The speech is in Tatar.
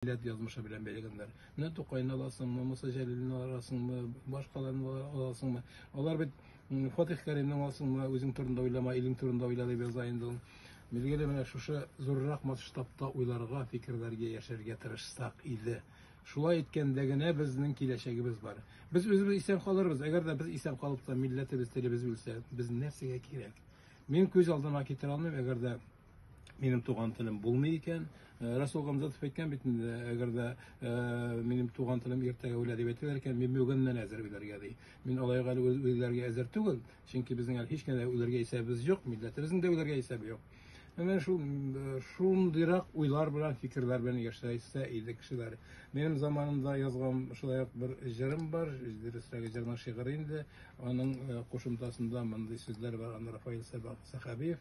милләт язмышы белән бәйләгәннәр. Менә Тукайны аласыңмы, Муса Җәлилне аласыңмы, башкаларны аласыңмы? Алар бит Фатих Кәримне аласыңмы, үзең турында уйлама, илең турында уйла дип яза инде ул. Билгеле, менә шушы зуррак масштабта уйларга, фикерләргә, яшәргә тырышсак иде. Шулай иткәндә генә безнең киләчәгебез бар. Без үзебез исән калырбыз. Әгәр дә без исән калып та милләтебез, телебез үлсә, без нәрсәгә кирәк? Мин күз алдына китерә алмыйм, әгәр дә минем туган телем булмый икән. Э, Расул Гамзатов әйткән бит инде, әгәр дә э, минем туган телем иртәгә үлә дип әйтәләр икән, мин бүгеннән әзер үләргә ди. Мин алай гал үләргә әзер түгел, чөнки безнең әле һич кенә үләргә исәбебез юк, милләтебезнең дә үләргә исәбе юк. Менә шул э, шундыйрак уйлар белән, фикерләр белән яшәсә иде кешеләр. Минем заманымда язган шулай ук бер җырым бар, дөресрәге җырның шигыре инде. Аның кушымтасында мондый сүзләр бар, аны Рафаил Сәхәбиев